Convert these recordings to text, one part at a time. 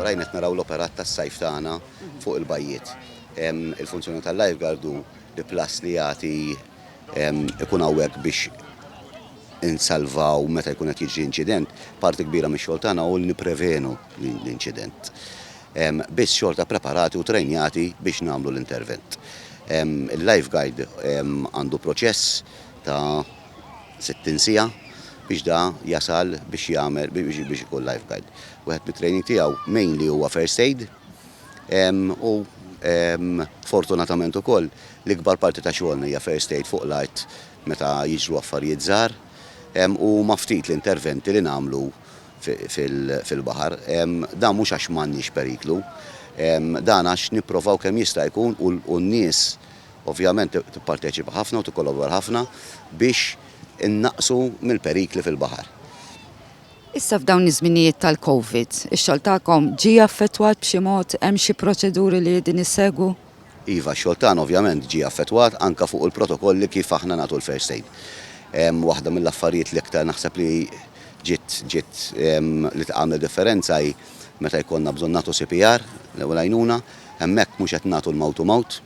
Warajn qed naraw l-operat tas-sajf tagħna fuq il-bajjiet. Il-funzjoni tal-lifeguard hu li plus li jagħti ikun hawnhekk biex insalvaw meta jkun qed jiġri inċident, parti kbira mix-xogħol tagħna hu li nipprevenu l-inċident. Biss xorta preparati u trejnjati biex nagħmlu l-intervent. Il-lifeguard għandu proċess ta' 60 siegħa biex da jasal biex jagħmel biex ikun lifeguard. Wieħed mit-training tiegħu mainly huwa first aid u fortunatament ukoll l-ikbar parti ta' xogħolna hija first aid fuq l-art meta jiġru affarijiet żgħar u huma ftit l-interventi li nagħmlu fil-baħar. Dan mhux għax m'għandniex periklu, dan għax nipprovaw kemm jista' jkun u n-nies Ovvjament tipparteċipa ħafna u tikkolobora ħafna biex innaqqsu mill-perikli fil-baħar. Issa f'dawn iż-żminijiet tal-Covid, ix-xogħol tagħkom ġie affettwat b'xi mod, hemm xi proċeduri li qegħdin issegwu? Iva, x-xogħol tagħna ovvjament ġie affettwat anke fuq il-protokolli kif aħna nagħtu l-first aid. Waħda mill-affarijiet li iktar naħseb li ġiet ġiet li tagħmel differenza hi meta jkollna bżonn nagħtu CPR, l-ewwel għajnuna, Hemmhekk mhux qed nagħtu l-mouth to mouth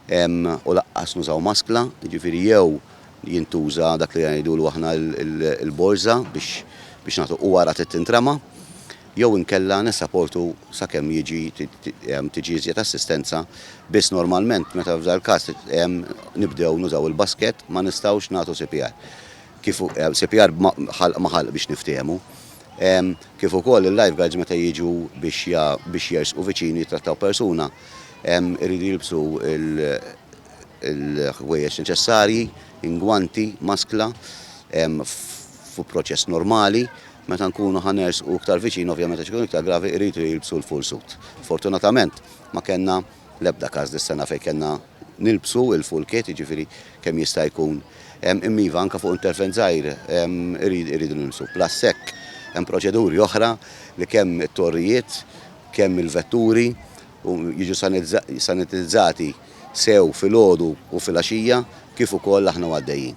u laqqas nużaw maskla, jiġifieri jew jintuża dak li ngħidulu aħna l-borża biex nagħtu u wara trid tintrema, jew inkella nissaportu sakemm jiġi tiġi iżjed assistenza biss normalment meta f'dal-każ nibdew nużaw il-basket ma nistgħux nagħtu CPR. Kif CPR ma' ħalq ma' ħalq biex niftehmu. kif ukoll il-lifeguards meta jiġu biex jersqu viċin jittrattaw persuna jridu jilbsu l-ħwejjeġ neċessarji, ingwanti, maskla, fu proċess normali. Meta nkunu ħa nersqu iktar viċin, ovvjament għax ikun iktar gravi, jridu jilbsu l-full suit. Fortunatament ma kellna L-ebda każ dis-sena fejn kellna nilbsu il-full kit, jiġifieri kemm jista' jkun. Imma iva, anke fuq intervent żgħir irridu nilbsu. Plus hekk hemm proċeduri oħra li kemm it-torrijiet, kemm il-vetturi jiġu sanitizzati sew filgħodu u filgħaxija kif ukoll aħna u għaddejjin.